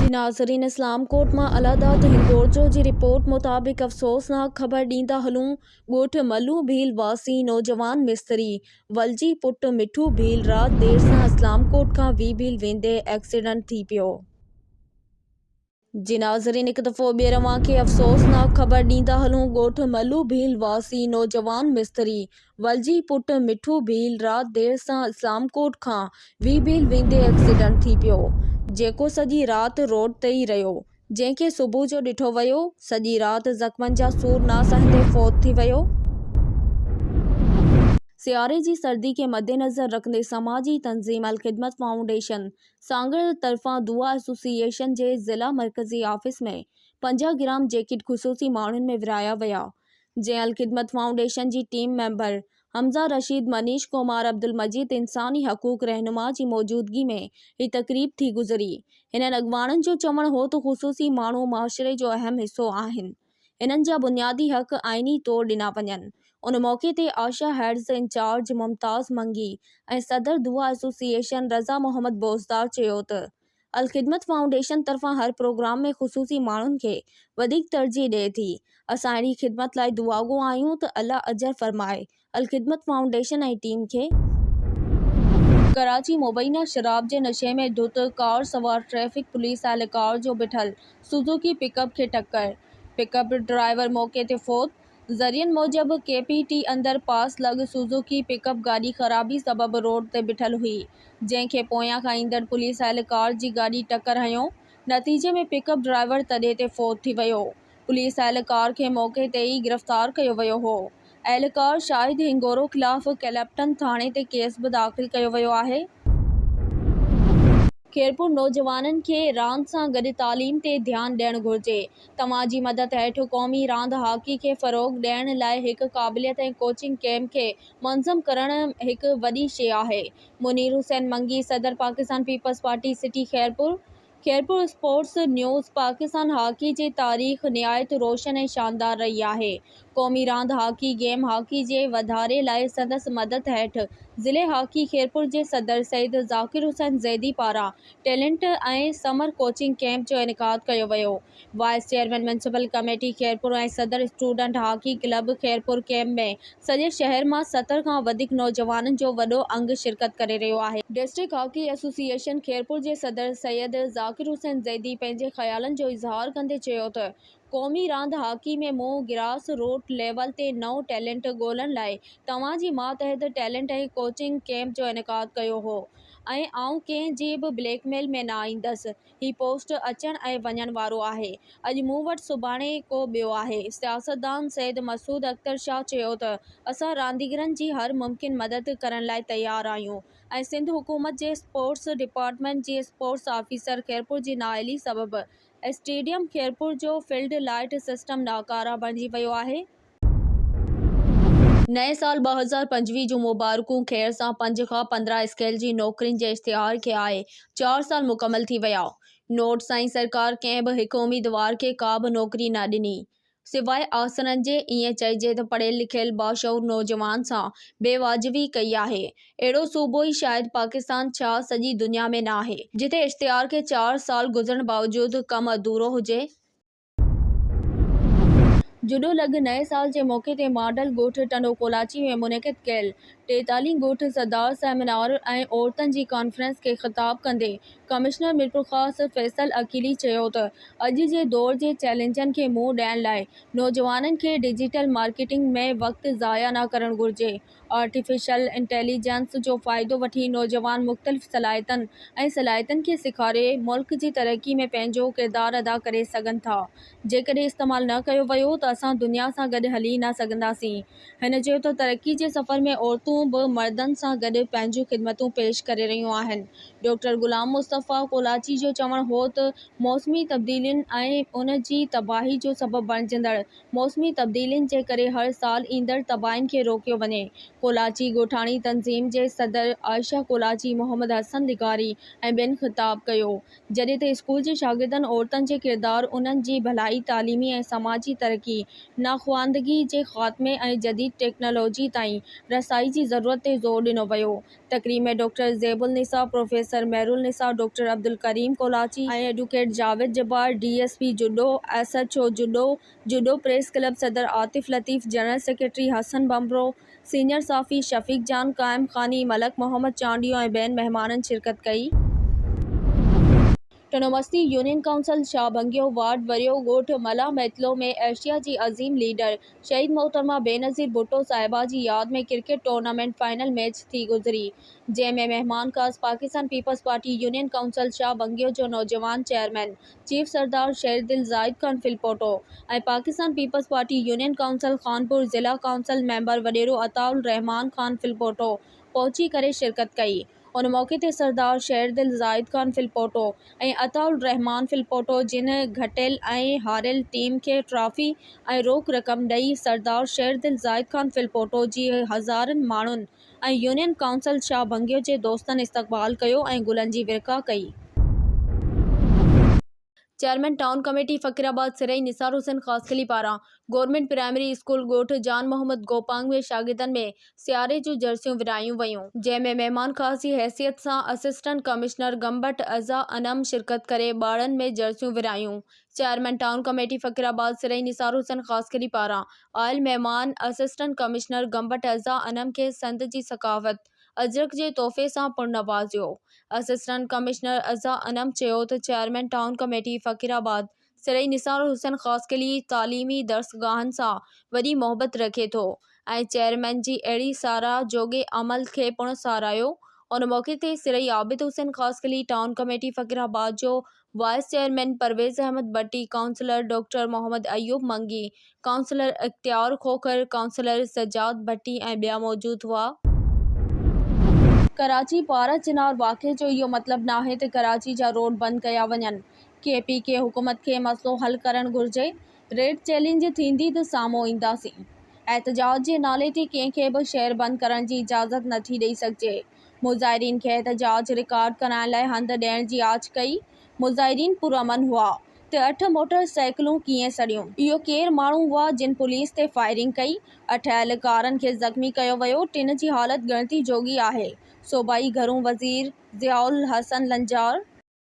جي ناظرين اسلام ڪوٽ مان الله داد هندورجو جي رپورٽ مطابق افسوسناڪ خبر ڏيندا هلون ڳوٺ ملو ڀيل واسي نوجوان مستري ولجي پٽ مٺو ڀيل رات دير سان اسلام ڪوٽ کان وي ڀيل ويندي ايڪسيڊنٽ ٿي پيو جي ناظرين هڪ دفعو ٻيهر اوهان کي افسوسناڪ خبر ڏيندا هلون ڳوٺ ملو ڀيل واسي نوجوان مستري ولجي پٽ مٺو ڀيل رات دير سان اسلام ڪوٽ کان وي ڀيل ويندي ايڪسيڊنٽ ٿي پيو جيڪو سڄي رات روڊ تي ئي رهيو جنهن کي صبح جو ڏٺو ويو سڄي رات زخمن جا سور نه سهندي فوت ٿي ويو. سياري جي سردي کي مدنظر رکندي سماجي تنظيم الخدمت فائونڊيشن سانگهڙ طرفان دعا ايسوسيئيشن جي ضلع مرڪزي آفيس ۾ پنجاهه گرام جيڪٽ خصوصي ماڻهن ۾ ورهايا ويا جنهن الخدمت فائونڊيشن جي ٽيم ميمبر حمزه رشيد منيش ڪمار عبدالمجيد انساني حقوق رهنما جي موجودگي ۾ هي تقريب ٿي گذري هنن اڳواڻن جو چوڻ هو ته خصوصي ماڻهو معاشري جو اهم حصو آهن انهن جا بنيادي حق آئيني طور ڏنا وڃن. ان موقعي تي آشا هيڊز انچارج ممتاز منگي ۽ صدر دعا ايسوسيئيشن رضا محمد بوزدار چيو ته الخدمت فائونڊيشن طرفان هر پروگرام ۾ خصوصي ماڻهن کي وڌيڪ ترجيح ڏئي ٿي، اسان اهڙي خدمت لاء دعاگو آهيون ته الله اجر فرمائي، الخدمت فائونڊيشن ۽ ٽيم کي. ڪراچي، مبينا شراب جي نشي ۾ ڌت ڪار سوار ٽريفڪ پوليس اهلڪار جو بيٺل سوزوڪي پڪ اپ کي ٽڪر، پڪ اپ ڊرائيور موقعي تي فوت، ذريعن موجب ڪي پي ٽي اندر پاس لڳ سوزوڪي پڪ اپ گاڏي خرابي سبب روڊ تي بيٺل هئي جنهن کي پويان کان ايندڙ پوليس اهلڪار جي گاڏي ٽڪر هنيو نتيجي ۾ پڪ اپ ڊرائيور تڏي تي فوت ٿي ويو پوليس اهلڪار کي موقعي تي ئي گرفتار ڪيو ويو هو. اهلڪار شاهد هينگورو خلاف ڪلپٽن ٿاڻي تي ڪيس به داخل ڪيو ويو آهي. خيرپور نوجوانن کي راند سان گڏ تعليم تي ڌيان ڏيڻ گهرجي، توهان جي مدد هيٺ قومي راند هاڪي کي فروغ ڏيڻ لاء هڪ قابليت ۽ ڪوچنگ ڪئمپ کي منظم ڪرڻ هڪ وڏي شيء آهي، منير حسين منگي صدر Pakistan Peoples Party city Khairpur, Khairpur, sports news, Pakistan hockey جي تاريخ نهايت روشن ۽ شاندار رهي آهي، قومي راند هاڪي گيم هاڪي جي واڌاري لاء سندس مدد هيٺ ضلعي هاڪي خيرپور جي صدر سيد ذاڪر حسين زيدي پاران ٽيلنٽ ۽ سمر ڪوچنگ ڪيمپ جو انعقاد ڪيو ويو، vice chairman municipal committee Khairpur ۽ صدر student hockey club Khairpur camp ۾ سڄي شهر مان ستر کان وڌيڪ نوجوانن جو وڏو انگ شرڪت ڪري رهيو آهي. ڊسٽرڪٽ هاڪي ايسوسيئيشن خيرپور جي صدر سيد ذاڪر حسين زيدي پنهنجي خيالن جو اظهار ڪندي چيو ته قومي راند هاڪي ۾ منهن گراس روٽ ليول تي نئون ٽيلنٽ ڳولڻ لاء توهان جي ماتحت ٽيلنٽ ۽ ڪوچنگ ڪيمپ جو انعقاد ڪيو هو ۽ آئون ڪنهن جي به بليڪ ميل ۾ نه ايندس هي پوسٽ اچڻ ۽ وڃڻ وارو آهي. اڄ مون وٽ سڀاڻي ڪو ٻيو آهي. سياستدان سيد مسعود اختر شاهه چيو ته اسان رانديگرن جي هر ممڪن مدد ڪرڻ لاء تيار آهيون ۽ سنڌ حڪومت جي اسپورٽس ڊپارٽمينٽ جي اسپورٽس آفيسر خيرپور جي نااهلي سبب اسٽيڊيم خيرپور جو فيلڊ لائيٽ سسٽم ناڪاره بڻجي ويو آهي. نئين سال ٻه هزار پنجويهه جون مبارڪون خير سان پنج کان پندرهن اسڪيل جي نوڪرين جي اشتهار کي آهي چار سال مڪمل ٿي ويا نوٽ سائين سرڪار ڪنهن به هڪ اميدوار کي ڪا به نوڪري نه ڏني سواء آسرن جي ائين چئجي ته پڙهيل لکيل باشعور نوجوان سان بي واجبي ڪئي آهي اهڙو صوبو ئي شايد پاڪستان ڇا سڄي دنيا ۾ ناهي جتي اشتهار کي چار سال گذرڻ باوجود ڪم اڌورو هجي. جڏو لڳ نئين سال جي موقعي تي ماڊل ڳوٺ ٽنڊو ڪولاچي ۾ منعقد ڪيل ٽيتالين ڳوٺ سڌار سيمينار ۽ عورتن جي ڪانفرنس کي خطاب ڪندي ڪمشنر ميرپورخاص فيصل عقيلي چيو ته اڄ جي دور جي چئلينجن کي منهن ڏيڻ لاء نوجوانن کي ڊجيٽل مارڪيٽنگ ۾ وقت ضايع نه ڪرڻ گهرجي آرٽيفيشل انٽيليجنس جو فائدو وٺي نوجوان مختلف صلاحيتن ۽ صلاحيتن کي سيکاري ملڪ جي ترقي ۾ پنهنجو ڪردار ادا ڪري سگهن ٿا. جيڪڏهن استعمال نه ڪيو ويو ته اسان دنيا سان گڏ هلي نه سگهنداسين. هن چيو ته ترقي جي سفر ۾ عورتون به مردن سان گڏ پنهنجون خدمتون پيش ڪري رهيون آهن. ڊاڪٽر غلام مصطفيٰ ڪولاچي جو چوڻ هو ته موسمي تبديلين ۽ ان جي تباهي جو سبب بڻجندڙ موسمي تبديلين جي ڪري هر سال ايندڙ تباهين کي روڪيو وڃي. ڪولاچي ڳوٺاڻي تنظيم جي صدر عائشه ڪولاچي محمد حسن لغاري ۽ ٻين خطاب ڪيو. جڏهن ته اسڪول جي شاگردن عورتن جي ڪردار، انهن جي ڀلائي، تعليمي ۽ سماجي ترقي، ناخواندگي جي خاتمي ۽ جديد ٽيڪنالاجي تائين رسائي جي ضرورت تي زور ڏنو ويو تقريب ۾ doctor Zeb Unnisa, professor Mehr Unnisa, doctor Abdul Karim Kolachi ۽ advocate Javed Jabbar, D S P Jodo, S H O Jodo, Jodo press club صدر Atif Latif, general secretary Hassan Bhanbhro, senior صحافي شفيق جان، قائم خاني، ملڪ محمد چانڊيو ۽ ٻين مهمانن شرڪت ڪئي. ٽنومستي يونين ڪائونسل شاهه ڀنگيو وارڊ وريو ڳوٺ ملاح ميتلو ۾ ايشيا جي عظيم ليڊر شهيد محترمه بينظير ڀٽو صاحبه جي ياد ۾ ڪرڪيٽ ٽورنامينٽ فائنل ميچ ٿي گذري جنهن ۾ مهمان خاص پاڪستان پيپلز پارٽي يونين ڪائونسل شاهه بنگيو جو نوجوان chairman chief Sardar Sher Dil Zahid Khan Phulpoto ۽ Pakistan Peoples Party union council Khanpur ضلع ڪائونسل ميمبر وڏيرو عطاء الرحمان خان ڦلپوٽو پهچي ڪري شرڪت ڪئي ان موقعي تي سردار شيردل زاهد خان ڦلپوٽو ۽ عطاء الرحمان ڦلپوٽو جن گهٽيل ۽ هاريل ٽيم کي ٽرافي ۽ روڪ رقم ڏئي سردار شيردل زاهد خان ڦلپوٽو جي هزارن ماڻهن ۽ يونين ڪائونسل شاهه ڀنگيو جي دوستن استقبال ڪيو ۽ گلن جي ورکا ڪئي. Chairman town committee Faqirabad Sarai Nisar Hussain Khaskheli پاران گورنمينٽ پرائمري اسڪول ڳوٺ جان محمد گوپانگ ۾ شاگردن ۾ سياري جون جرسيون ورهايون ويون، جنهن ۾ مهمان خاص جي حيثيت سان اسسٽنٽ ڪمشنر گمبٽ عزا انعم شرڪت ڪري ٻارڙن ۾ جرسيون ورهايون. Chairman town committee Faqirabad Sarai Nisar Hussain Khaskheli پاران آيل مهمان اسسٽنٽ ڪمشنر گمبٽ عزا انعم کي سنڌ جي ثقافت، اجرڪ جي تحفي سان پڻ نوازيو. اسسٽنٽ ڪمشنر عزا انعم چيو ته chairman town committee Faqirabad Sari Nisar Hussain Khaskheli تعليمي درسگاهن سان وڏي محبت رکي ٿو ۽ چيئرمين جي اهڙي ساراهه جوڳي عمل کي پڻ ساراهيو ان موقعي تي سري عابد حسين خاصخيلي ٽائون ڪميٽي فقيرآباد جو vice chairman Parvez Ahmed Bhatti, councillor doctor Muhammad Ayub Mangi, councillor Ikhtiar Khokhar, councillor Sajjad ڀٽي ۽ ٻيا موجود هئا. ڪراچي، پارا چنار واقعي جو اهو مطلب ناهي ته ڪراچي جا روڊ بند ڪيا وڃن، ڪي پي ڪي حڪومت کي مسئلو حل ڪرڻ گهرجي، ريڊ چئلينج ٿيندي ته سامهون اينداسين، احتجاج جي نالي تي ڪنهن کي به شهر بند ڪرڻ جي اجازت نٿي ڏئي سگهجي. مظاهرين کي احتجاج رڪارڊ ڪرائڻ لاء هنڌ ڏيڻ جي آڇ ڪئي. مظاهرين پرامن هئا ته اٺ موٽر سائيڪلون ڪيئن سڙيون؟ اهي ڪير ماڻهو هئا جن پوليس تي فائرنگ ڪئي؟ اٺ اهلڪارن کي زخمي ڪيو ويو، ٽن جي حالت ڳڻتي جوڳي آهي، صوبائي گهرو وزير ضياء الحسن لنجار.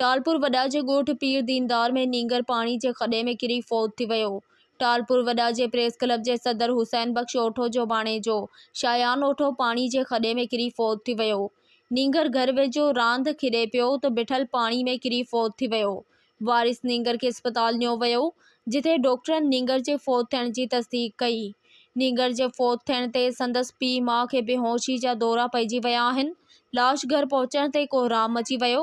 ٽالپور وڏا جي ڳوٺ پير ديندار ۾ نينگر پاڻي جي کڏي ۾ ڪري فوت ٿي ويو. ٽالپور وڏا جي پريس ڪلب جي صدر حسين بخش اوٺو جو ڀاڻيجو شايان اوٺو پاڻي جي کڏي ۾ ڪري فوت ٿي ويو. نينگر گهر ويجهو راند کيڏي پيو ته بيٺل پاڻي ۾ ڪري فوت ٿي ويو. وارث نينگر کي اسپتال نيو ويو، جتي ڊاڪٽرن نينگر جي فوت ٿيڻ جي تصديق ڪئي. نينگر جي فوت ٿيڻ تي سندس پيء ماء کي بي هوشي جا دورا پئجي ويا آهن. لاش گهر پهچڻ تي ڪوهرام مچي ويو.